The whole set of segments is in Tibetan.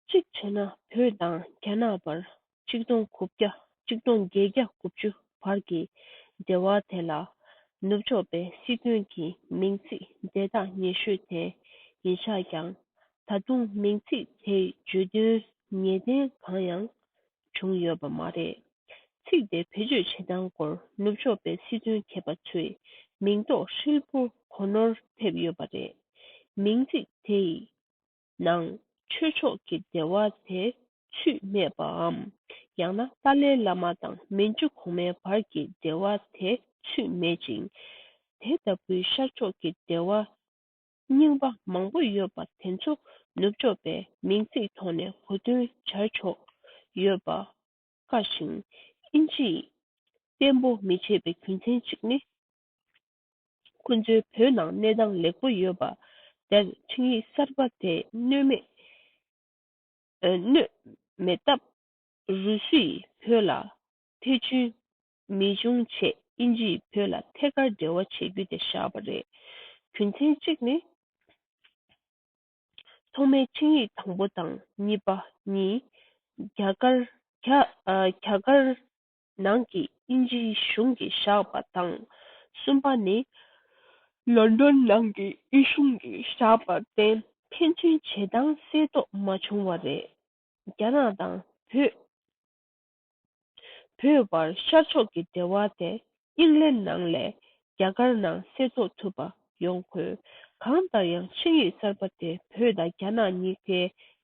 གཅིག་བྱས་ན་བོད་དང་རྒྱ་ནག་བར་གཅིག་སྟོང་དགུ་བརྒྱ་གཅིག་སྟོང་བརྒྱད་བརྒྱ་དགུ་བཅུ་བར་གྱི་འབྲེལ་བ་དེ་ལ་ནུབ་ཕྱོགས་པའི་སྲིད་དོན་གྱི་མིང་ཚིག་འབྲེལ་ཐག་ཉེ་ཤོས་དེ་ཡིན་ཆགས་ཀྱང་ད་དུང་མིང་ཚིག་དེའི་བརྗོད་དོན་ངེས་གཏན་གང་ཡང་བྱུང་ཡོད་པ་མ་རེད། ཚིག་དེ་བེད་སྤྱོད་བྱེད་སྟངས་སྐོར་ནུབ་ཕྱོགས་པའི་སྲིད་དོན་མཁས་པ་ཚོས་མིང་འདོགས་ཧྲིལ་པོ་གོ་ནོར་ཐེབས་ཡོད་པ་རེད། མིང་ཚིག་དེ་ཡི་ནང་ཆོས་མཆོག་གི་སྡེ་བ་དེ་ཆུས་སྨད་པའམ་ཡང་ན་ཏཱ་ལའི་བླ་མ་དང་མན་ཇུ་གོང་མའི་བར་གྱི་སྡེ་བ་དེ་ཆུས་སྨད་ཅིང། དེ་ལྟ་བུའི་ཤར་ཕྱོགས་ཀྱི་སྡེ་བ་རྙིང་པ་མང་པོ་ཡོད་པ་དེ་ཚོ་ནུབ་ཕྱོགས་པས་མིང་ཚིག་ཐོག་ནས་གོ་བསྟུན་བྱར་ཆོག་ཡོད་པ་དཀའ་ཞིང། དབྱིན་ཇིས་གཏན་པོ་མི་བྱེད་པའི་རྒྱུ་མཚན་གཅིག་ནི། ཁོ་ཚོའི་བོད་ནང་གནས་སྟངས་ལེགས་པོ་ཡོད་པ་དེར་འཕྲིན་ཡིག་གསར་པ་དེ་གནོད་མེད་སྟབས་རུ་སུས་བོད་ལ་ཐེ་ཇུས་མི་འབྱུང་ཆེད་དབྱིན་ཇིས་བོད་ལ་ཐད་ཀར་འབྲེལ་བ་བྱེད་རྒྱུ་དེ་བཞག་པ་རེད། རྒྱུ་མཚན་གཅིག་ནི། ཐོག་མའི་འཕྲིན་ཡིག་དང་པོ་དང་གཉིས་པ་གཉིས་རྒྱ་གར་ནང་གི་དབྱིན་ཇིའི་གཞུང་གིས་བཞག་པ་དང། གསུམ་པ་ནི། ལོན་དོན་ནང་གི་དབྱི་གཞུང་གིས་བཞག་པར་བརྟེན་ཕན་ཚུན་བྱེད་སྟངས་གསལ་རྟོགས་མ་བྱུང་བ་རེད། རྒྱ་ནག་དང་བོད། བོད་བར་ཤར་ཕྱོགས་ཀྱི་འབྲེལ་བ་དེ་དབྱིན་ལན་ནང་ལས་རྒྱ་གར་ནང་གསལ་རྟོགས་ཐུབ་པ་ཡོང་དགོས། གང་ལྟར་ཡང་ཆིངས་ཡིག་གསར་པ་དེ་བོད་དང་རྒྱ་ནག་གཉིས་ཀའི་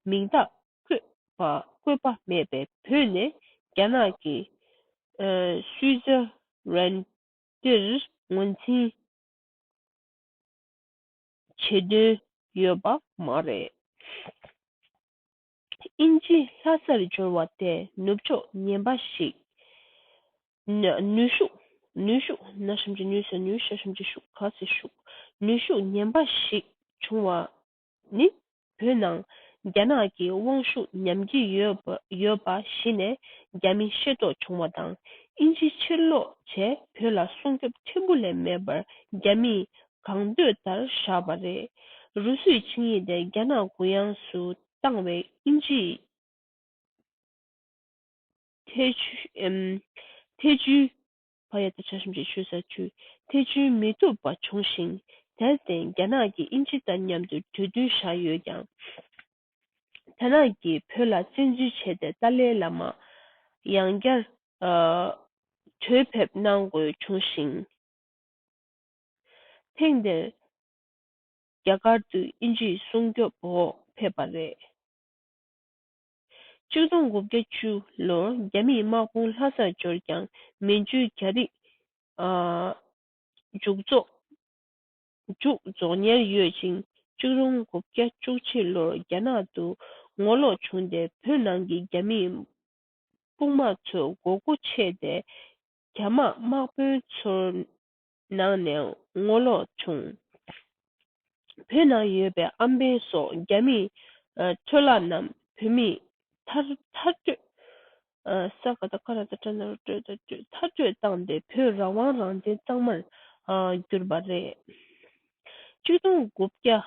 མིང་རྟགས་བཀོད་པ་བཀོད་པ་མེད་པའི་བོད་ནས་རྒྱ་ནག་གི་སུའི་ཛི་རན་ཏིར་ངོས་འཛིན་བྱེད་འདུན་ཡོད་པ་མ་རེད། དབྱིན་ཇི་ལྷ་སར་འབྱོར་བ་དེ་ནུབ་ཕྱོགས་ངན་པ་ཞིག་ནུས་ཤུགས་ནུས་ཤུགས་ནུས་ཤུགས་ངན་པ་ཞིག་བྱུང་བ་ནི་བོད་ནང་རྒྱ་ནག་གི་དབང་ཤུགས་ཉམས་ཀྱི་ཡོད་པ་གཞི་ནས་རྒྱ་མི་ཤེས་རྟོགས་བྱུང་བ་དང་དབྱིན་ཇི་ཕྱིར་ལོག་བྱས་བོད་ལ་སྲུང་སྐྱོབ་ཕྲན་བུ་ལས་མེད་པར་རྒྱ་མིས་གང་འདོད་ལྟར་བཞག་པ་རེད། རུ་སུས་ཆིངས་ཡིག་དེ་རྒྱ་ནག་གུ་ཡངས་སུ་བཏང་བས་དབྱིན་ཇིས་ཐེ་ཇུས། བ་ཡོད་དོ་ཅོག་ཞིབ་འཇུག་ཞུ་ས་བཅུ་ཐེ་ཇུས་མི་ཐུབ་པ་བྱུང་ཞིང་དེར་བརྟེན་རྒྱ་ནག་གིས་དབྱིན་ཇི་དང་མཉམ་དུ་གྲོས་བསྡུར་བཞག་ཡོད་ཀྱང། རྒྱ་ནག་གིས་བོད་ལ་བཙན་འཛུལ་བྱས་ཏེ་ཏཱ་ལའི་བླ་མ་ཡང་བསྐྱར་གྲོས་ཕེབས་གནང་དགོས་བྱུང་ཞིང། ཐེངས་འདིར་རྒྱ་གར་དུ་དབྱིན་ཇིའི་སྲུང་སྐྱོབ་འོག་ཕེབས་པ་རེད། བཅུ་གསུམ་དགུ་བརྒྱ་བཅུ་ལོར་རྒྱ་མིས་དམག་དཔུང་ལྷ་སར་འབྱོར་ཀྱང་མན་ཇུའི་རྒྱ་རིགས་མཇུག་རྫོགས། མཇུག་རྫོགས་ཉེར་ཡོད་ཅིང་བཅུ་གསུམ་དགུ་བརྒྱ་བཅུ་བཞི་ལོར་རྒྱ་ནག་ཏུ་ངོ་ལོག་བྱུང་སྟེ་བོད་ནང་གི་རྒྱ་མིས་དཔུང་དམག་ཚོའི་མགོ་སྐུ་ཕྱེས་ཏེ་རྒྱ་དམག་དམག་དཔོན་ཚོར་ནང་ནས་ངོ་ལོག་བྱུང། བོད་ནང་ཡོད་པའི་ཨམ་བན་སོགས་རྒྱ་མི་འཕྲོ་བརླག་རྣམས་བོད་མི་ཚར་གཅོད་བཏང་སྟེ་བོད་རང་དབང་རང་བཙན་གཙང་མར་བསྒྱུར་པ་རེད། གཅིག་སྟོང་དགུ་བརྒྱ་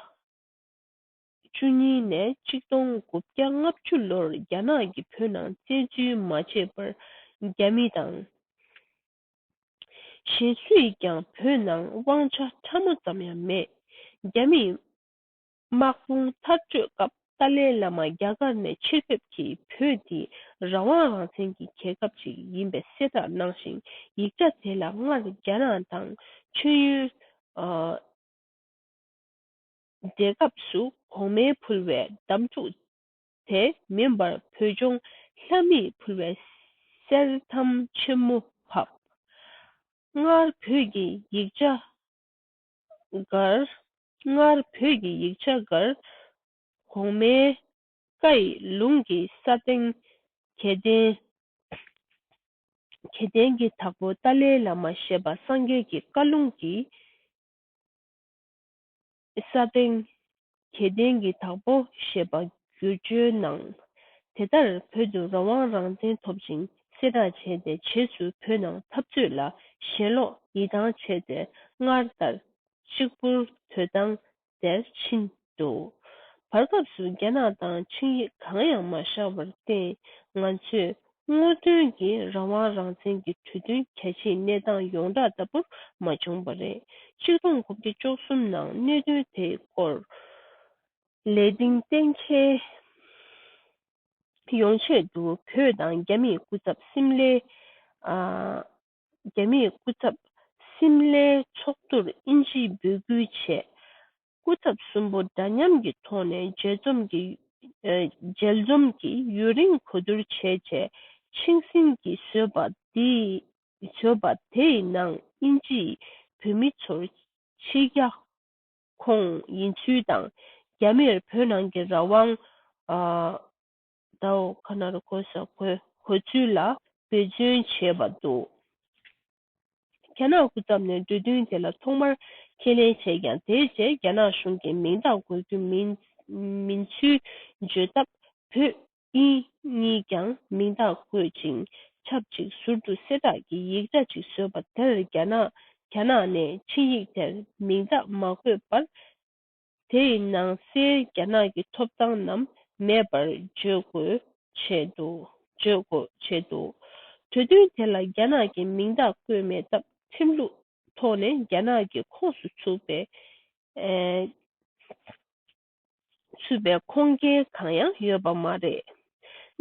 བཅུ་གཉིས་ནས་གཅིག་སྟོང་དགུ་བརྒྱ་ལྔ་བཅུ་ལོར་རྒྱ་ནག་གིས་བོད་ནང་བཙན་འཛུལ་མ་བྱས་པར་རྒྱ་མི་དང། གཞན་སུས་ཀྱང་བོད་ནང་དབང་ཆ་ཕྲ་མོ་ཙམ་ཡང་མེད། རྒྱ་མིས་དམག་དཔུང་མཐར་སྐྲོད་སྐབས་ཏཱ་ལའི་བླ་མ་རྒྱ་གར་ནས་ཕྱིར་ཕེབས་ཀྱིས་བོད་འདི་རང་དབང་རང་བཙན་གྱི་རྒྱལ་ཁབ་ཅིག་ཡིན་པའི་གསལ་བསྒྲགས་གནང་ཞིང་ཡིག་ཆ་དེ་ལ་སྔར་རྒྱ་རང་དང་མཆོད་ཡོན་སྦྲེལ་སྐབས་སུ་གོང་མའི་ཕུལ་བའི་གདམས་ཐུག་དེ་མིན་པར་བོད་ལྗོངས་ལྷ་མིས་ཕུལ་བའི་གསེར་ཐམ་ཆེན་མོ་ཕབ། སྔར་བོད་ཀྱི་ཡིག་ཆ་འགར། སྔར་བོད་ཀྱི་ཡིག་ཆ་འགར། གོང་མའི་བཀའ་ཡི་ལུང་གི་ས་སྟེང། གྱད་ལྡན་གྱད་ལྡན་གྱི་དྭགས་པོ་ཏཱ་ལའི་བླ་མ་ཞེས་པ་སངས་རྒྱས་ཀྱི་བཀའ་ལུང་གིས། ས་སྟེང། གྱེས་བརྟན་གྱི་དྭགས་པོ་ཞེས་པ་བསྒྱུར་བཅོས་གནང། དེ་ལྟར་བོད་དུ་རང་དབང་རང་བཙན་ཐོབ་ཅིང་གསལ་བསྒྲགས་བྱས་ཏེ་བྱེས་སུ་བོད་ནང་འཐབ་རྩོད་ལ་ཞེན་ལོག་ཡིད་ཐང་ཆད་དེ་སྔར་ལྟར་གཅིག་པུར་དོད་དང་དེར་ཕྱིན་འདུག་བར་སྐབས་སུ་རྒྱ་ནག་དང་ཆིངས་ཡིག་གང་ཡང་མ་བཞག་པར་བརྟེན་ང་ཚོས་སྔོན་ཐོན་གྱི་རང་དབང་རང་བཙན་གྱི་གྲོས་མཐུན་གལ་ཆེའི་གནས་སྟངས་ཡོངས་གྲགས་ལྟ་བུར་མ་བྱུང་བ་རེད། ཆིག་སྟོང་དགུ་བརྒྱ་བཅུ་གསུམ་ནང་གནད་དོན་དེའི་སྐོར་ལས་དིང་གཏན་འཁེལ་ཡོང་ཆེད་དུ་བོད་དང་རྒྱ་མིས་སྐུ་ཚབ་སིམ་ལའི་རྒྱ་མིས་སྐུ་ཚབ་སིམ་ལའི་ཚོགས་འདུར་དབྱིན་ཇིས་འབོད་སྐུལ་བྱས། སྐུ་ཚབ་གསུམ་པོ་འདྲ་མཉམ་གྱི་ཐོག་ནས་མཇལ་འཛོམས་ཀྱིས་ཡུན་རིང་གོ་བསྡུར་བྱས་རྗེས་ཆིང་སིན་གྱིས་བཟོས་པ་དེའི་ནང་དབྱིན་ཇིས་བོད་མི་ཚོར་ཕྱི་རྒྱ་ཁོངས་ཡིན་ཚུལ་དང་རྒྱ་མིར་བོད་ནང་གི་རང་དབང་ཟླ་འོག་ཁ་ནར་གོ་ས་གོ་ཚུལ་ལ་འབད་བརྩོན་བྱས་པ་འདུག་རྒྱ་ནག་སྐུ་ཚབ་ནས་འབྲུ་བདུན་དེ་ལ་ཐོག་མར་ཁས་ལེན་བྱས་ཀྱང་དེའི་རྗེས་རྒྱ་ནག་གཞུང་གིས་མིང་རྟགས་འགོད་རྒྱུ་མིན་ཚུལ་བརྗོད་སྟབས་བོད་དབྱིན་གཉིས་ཀྱང་མིང་རྟགས་བཀོད་ཅིང་ཆབས་ཅིག་ཟུར་དུ་གསལ་བསྒྲགས་ཀྱི་ཡིག་ཆ་ཅིག་བཟོས་པ་དེར་རྒྱ་ནག་ནས་ཕྱི་ཡིག་དེར་མིང་རྟགས་མ་བཀོད་པར་དེ་ཡི་ནང་སའི་རྒྱ་ནག་གི་ཐོབ་ཐང་རྣམས་མེད་པར་བརྗོད་དགོས་བྱེད་འདུག་གྲོས་མཐུན་དེ་ལ་རྒྱ་ནག་གི་མིང་རྟགས་བཀོད་མེད་སྟབས་ཁྲིམས་ལུགས་ཐོག་ནས་རྒྱ་ནག་གི་ཁོངས་སུ་ཚུད་པའི་ཁོངས་སྐྱེལ་གང་ཡང་ཡོད་པ་མ་རེད།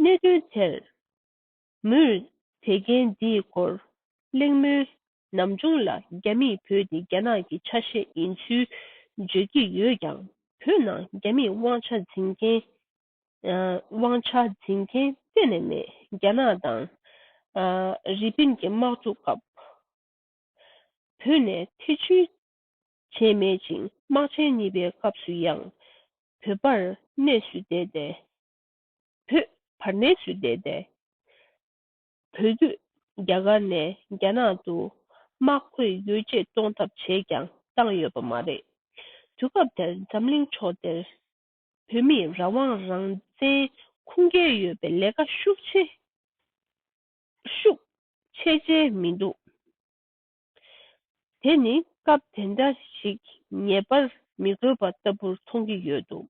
གནད་དོན་དེར། མོས་དེ་རྐྱེན་འདིའི་སྐོར་གླེང་མོལ་ནམ་བྱུང་ལ་རྒྱ་མིས་བོད་དེ་རྒྱ་ནག་གི་ཆ་ཤས་ཡིན་ཚུལ་བརྗོད་ཀྱི་ཡོད་ཀྱང་བོད་ནང་རྒྱ་མིས་དབང་ཆ་འཛིན་མཁན་དབང་ཆ་འཛིན་མཁན་གཏན་ནས་མེད་རྒྱ་ནག་དང་རི་པིན་གྱི་དམག་འཁྲུག་སྐབས་བོད་ནས་ཐེ་བྱུས་བྱས་མེད་ཅིང་དམག་ཆེན་གཉིས་པའི་སྐབས་སུ་ཡང་བོད་པར་གནས་སུ་བསྡད་དེ་བོད་བར་གནས་ཚུལ་བལྟས་ཏེ། བོད་བརྒྱུད་རྒྱ་གར་ནས་རྒྱ་ནག་ཏུ་དམག་བཀོད་ཡོ་བྱད་གཏོང་ཐབས་བྱས་ཀྱང་བཏང་ཡོད་པ་མ་རེད། དུས་སྐབས་དེར་འཛམ་གླིང་ཕྱོགས་དེར་བོད་མིས་རང་དབང་རང་བཙན་ཁུངས་སྐྱེལ་ཡོད་པའི་ལས་ཀ་ཤུགས་ཆེ་ཤུགས་ཆེ་བྱས་མི་འདུག་དེ་ནི་སྐབས་དེ་འདྲ་ཞིག་ངེས་པར་མི་དགོས་པ་ལྟ་བུར་མཐོང་གི་ཡོད་འདུག་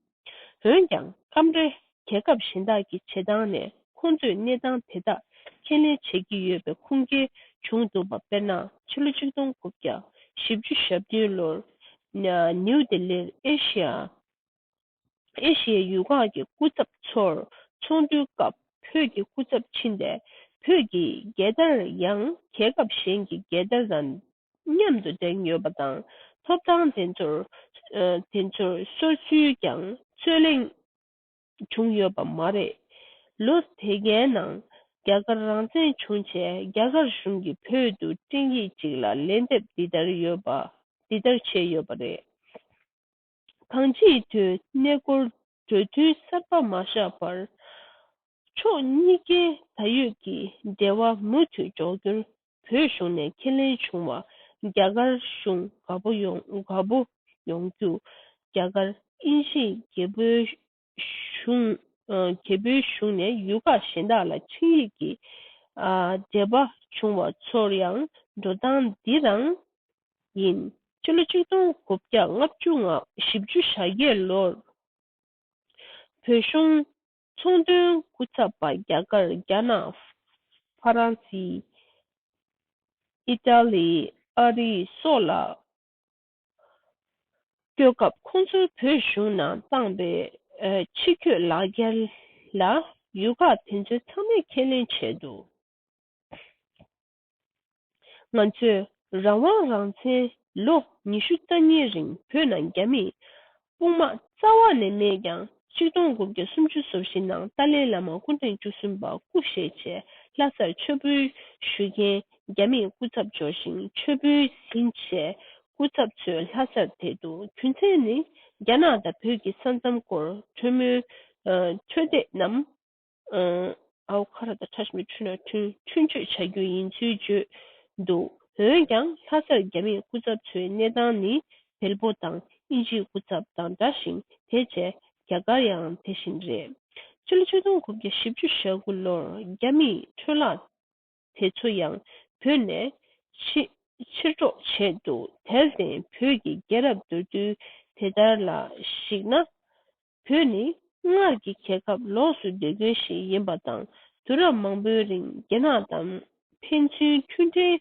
འོན་ཀྱང་སྐབས་རེ་རྒྱལ་ཁབ་གཞན་དག་གི་བྱེད་སྟངས་ནས་ཁོང་ཚོས་གནས་སྟངས་དེ་དག་ཁས་ལེན་བྱེད་ཀྱི་ཡོད་པའི་ཁུངས་སྐྱེལ་བྱུང་འདུག་པ་དཔེར་ན་ཕྱི་ལོ་གཅིག་སྟོང་དགུ་བརྒྱ་བཞི་བཅུ་ཞབས་བདུན་ལོར་ནིའུ་དེ་ལིར་ཨེ་ཤི་ཡ་ཨེ་ཤི་ཡའི་ཡུལ་ཁག་གི་སྐུ་ཚབ་ཚོར་ཚོགས་འདུའི་སྐབས་བོད་ཀྱི་སྐུ་ཚབ་ཕྱིན་ཏེ་བོད་ཀྱི་རྒྱལ་དར་ཡང་རྒྱལ་ཁབ་གཞན་གྱི་རྒྱལ་དར་དང་མཉམ་དུ་བསྒྲེངས་ཡོད་པ་དང་ཐོབ་ཐང་དེ་ཚོར་གསོལ་ཚུལ་ཀྱང་རྩོད་གླེང་བྱུང་ཡོད་པ་མ་རེད། ལོ་དེ་གའི་ནང་རྒྱ་གར་རང་བཙན་བྱུང་རྗེས་རྒྱ་གར་གཞུང་གིས་བོད་དུ་སྤྲིངས་ཡིག་ཅིག་ལ་ལན་འདེབས་འདི་ལྟར་བྱས་ཡོད་པ་རེད། གང་ཅིའི་དོན་གནད་སྐོར་གྲོས་མཐུན་གསར་པ་མ་བཞག་པར། ཕྱོགས་གཉིས་ཀའི་ད་ཡོད་ཀྱི་འབྲེལ་བ་མུ་མཐུད་འཇོག་རྒྱུར་བོད་གཞུང་ནས་ཁས་ལེན་བྱུང་བར་རྒྱ་གར་གཞུང་དགའ་པོ་ཡོང་རྒྱུ། རྒྱ་གར་དབྱིན་ཇིས་རྒྱལ་པོའི་གཞུང། རྒྱལ་པོའི་གཞུང་ནས་ཡུལ་ཁག་གཞན་དག་ལ་ཆིངས་ཡིག་གི་འབྲེལ་པ་བྱུང་བ་ཚོར་ཡང་འགྲོ་སྟངས་འདི་རང་ཡིན། སྤྱི་ལོ་ཆིག་སྟོང་དགུ་བརྒྱ་ལྔ་བཅུ་ང་བཞི་བཅུ་ཞག་བརྒྱད་ལོར་བོད་གཞུང་ཚོང་དོན་སྐུ་ཚབ་པ་རྒྱ་གར་རྒྱ་ནག་ཧྥ་རན་སི་ཨི་ཏཱ་ལི་ཨ་རི་སོགས་ལ་སྐྱོད་སྐབས་ཁོང་ཚོའི་བོད་གཞུང་ནང་བཏང་པའི་ཕྱི་སྐྱོད་ལག་འཁྱེར་ལ་ཡུལ་ཁག་དེ་ཚོའི་ཚང་མས་ཁས་ལེན་བྱས་འདུག་ང་ཚོས་རང་དབང་རང་བཙན་ལོ་ཉི་ཤུ་རྩ་གཉིས་རིང་བོད་ནང་རྒྱ་མིས་དཔུང་དམག་རྩ་བ་ནས་མེད་ཀྱང་གཅིག་སྟོང་དགུ་བརྒྱ་སུམ་ཅུ་སོ་བཞི་ནང་ཏཱ་ལའི་བླ་མ་སྐུ་ཕྲེང་བཅུ་གསུམ་པ་སྐུ་གཤེགས་རྗེས་ལྷ་སར་མཆོད་འབུལ་ཞུ་མཁན་རྒྱ་མིས་སྐུ་ཚབ་འབྱོར་ཞིང་མཆོད་འབུལ་ཟིན་རྗེས་སྐུ་ཚབ་ཚོས་ལྷ་སར་དེད་དུ་རྒྱུ་མཚན་ནི་རྒྱ་ནག་དང་བོད་ཀྱི་ས་མཚམས་སྐོར་གྲོས་མོལ་འཕྲོད་བསྡད་རྣམས། ཨའོ་ཁ་ར་དང་ཁྲ་ཞིམ་གྱི་འཕྲུལ་ནག་ཐུན་མཆོད་བྱ་རྒྱུ་ཡིན་ཚུལ་བརྗོད་འདུག་འོན་ཀྱང་ལྷ་སར་རྒྱ་མིའི་སྐུ་ཚབ་ཚོའི་གནས་སྟངས་ནི་བལ་པོ་དང་དབྱིན་ཇིའི་སྐུ་ཚབ་དང་འདྲ་ཞིང་དེ་བཅས་རྒྱ་གར་ཡང་དེ་བཞིན་རེད། སྤྱི་ལོ་བཅུ་སྟོང་དགུ་བརྒྱ་བཞི་བཅུ་ཞེ་དགུ་ལོར་རྒྱ་མིས་འཕྲུལ་ལག་དེ་ཚོ་ཡང་བོད་ནས་ཕྱིར་སྒྲོག་བྱས་འདུག་དེར་བརྟེན་བོད་ཀྱི་རྒྱལ་རབས་མདོར་བསྡུས་དེ་ལྟར་ལ་གཞིགས་ན། བོད་ནི་སྔར་གྱི་རྒྱལ་ཁབ་ལོགས་སུ་སྡོད་མཁན་ཞིག་ཡིན་པ་དང་དུས་རབས་མང་པོའི་རིང་རྒྱ་ནག་དང་ཕན་ཚུན་མཐུན་འབྲེལ་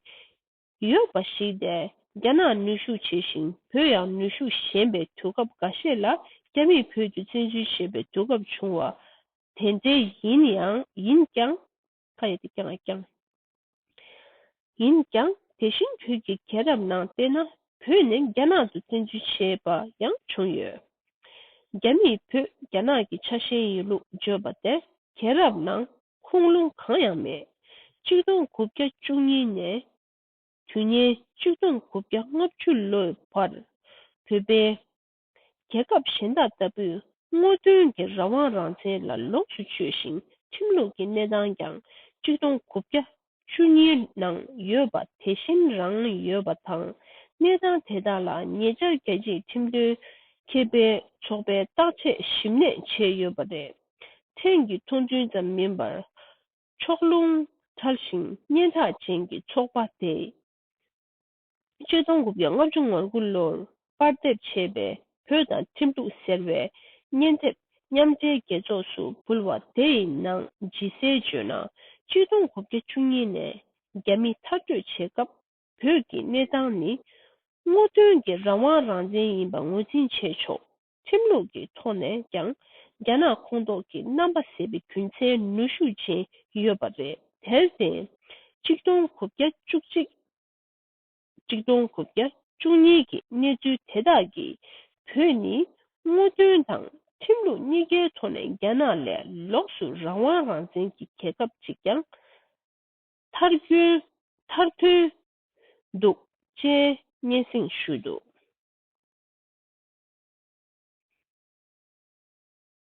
ཡོད་པ་ཞིག་སྟེ་རྒྱ་ནག་ནུས་ཤུགས་ཆེ་ཞིང་བོད་ཡང་ནུས་ཤུགས་ཞན་པའི་དུས་སྐབས་འགའ་ཤས་ལ་རྒྱ་མིས་བོད་དུ་བཙན་འཛུལ་བྱེད་པའི་དུས་སྐབས་བྱུང་བ་དེ་འདྲ་ཡིན་ཀྱང། ཁ་ཡོད་དེ་རྐྱང་རྐྱང་ཡིན་ཀྱང་དེ་བཞིན་བོད་ཀྱི་རྒྱལ་རབས་ནང་བལྟས་ན་བོད་ནས་རྒྱ་ནག་ཏུ་བཙན་འཛུལ་བྱས་པ་ཡང་བྱུང་ཡོད། རྒྱ་མིས་བོད་རྒྱ་ནག་གི་ཆ་ཤས་ཡིན་ལུགས་བརྗོད་པ་དེར་རྒྱལ་རབས་ནང་ཁུངས་ལུང་གང་ཡང་མེད། གཅིག་སྟོང་དགུ་བརྒྱ་བཅུ་གཉིས་ནས་དུས་ངན་གཅིག་སྟོང་དགུ་བརྒྱ་ལྔ་བཅུ་ལོའི་བར་བོད་པའི་རྒྱལ་ཁབ་གཞན་དག་ལྟ་བུས་སྔོན་ཐོན་གྱི་རང་དབང་རང་བཙན་ལ་ལོངས་སུ་སྤྱོད་ཞིང་ཁྲིམས་ལུགས་ཀྱི་གནས་སྟངས་ཀྱང་གཅིག་སྟོང་དགུ་བརྒྱ་བཅུ་གཉིས་ནང་ཡོད་པ་དེ་བཞིན་རང་ཡོད་པ་དང་གནས་སྟངས་དེ་དག་ལ་ཉེ་ཆར་རྒྱལ་སྤྱིའི་ཁྲིམས་དོན་ཁེ་ཕན་ཚོགས་པས་བརྟག་དཔྱད་ཞིབ་ནན་བྱས་ཡོད་པ་རེད། ཕྲན་གྱི་མཐོང་ཚུལ་ཙམ་མིན་པར་ཕྱོགས་ལྷུང་ཕྲ་ཞིང་སྙན་གྲགས་ཅན་གྱི་ཚོགས་པ་དེས་སྤྱི་སྟོང་དགུ་བརྒྱ་ལྔ་བཅུ་ང་དགུ་ལོར་པར་འདེབས་བྱས་པའི་བོད་དང་ཁྲིམས་གཏུགས་ཟེར་བའི་སྙན་དེབ་མཉམ་འབྲེལ་རྒྱལ་ཚོགས་སུ་འབུལ་བ་དེ་ཡི་ནང་ཇི་གསལ་བརྗོད་ན་སྤྱི་སྟོང་དགུ་བརྒྱ་བཅུ་གཉིས་ནས་རྒྱ་མི་མཐར་སྐྲོད་བྱེད་སྐབས་བོད་ཀྱི་གནས་སྟངས་ནི་སྔོག་འདོན་གྱི་རང་དབང་རང་བཙན་ཡིན་པ་ངོས་འཛིན་བྱས་ཆོག་ཁྲིམས་ལུགས་ཀྱི་ཐོག་ནས་ཀྱང་རྒྱ་ནག་ཁོངས་གཏོགས་ཀྱི་རྣམ་པ་ཟེར་བའི་རྒྱུ་མཚན་ནུས་ཤུགས་ཅན་ཡོད་པ་རེད་དེར་བརྟེན་སྤྱི་སྟོང་དགུ་བརྒྱ་བཅུ་གཅིག་གཅིག་སྟོང་དགུ་བརྒྱ་བཅུ་གཉིས་ཀྱི་གནས་ཚུལ་དེ་དག་གིས་བོད་ནི་དངོས་དོན་དང་ཁྲིམས་ལུགས་གཉིས་ཀའི་ཐོག་ནས་རྒྱ་ནག་ལས་ལོགས་སུ་རང་དབང་རང་བཙན་གྱི་རྒྱལ་ཁབ་ཅིག་ཀྱང་མཐར་ཐོན་འདུག་ཅེས་སྙན་སེང་ཞུས་འདུག།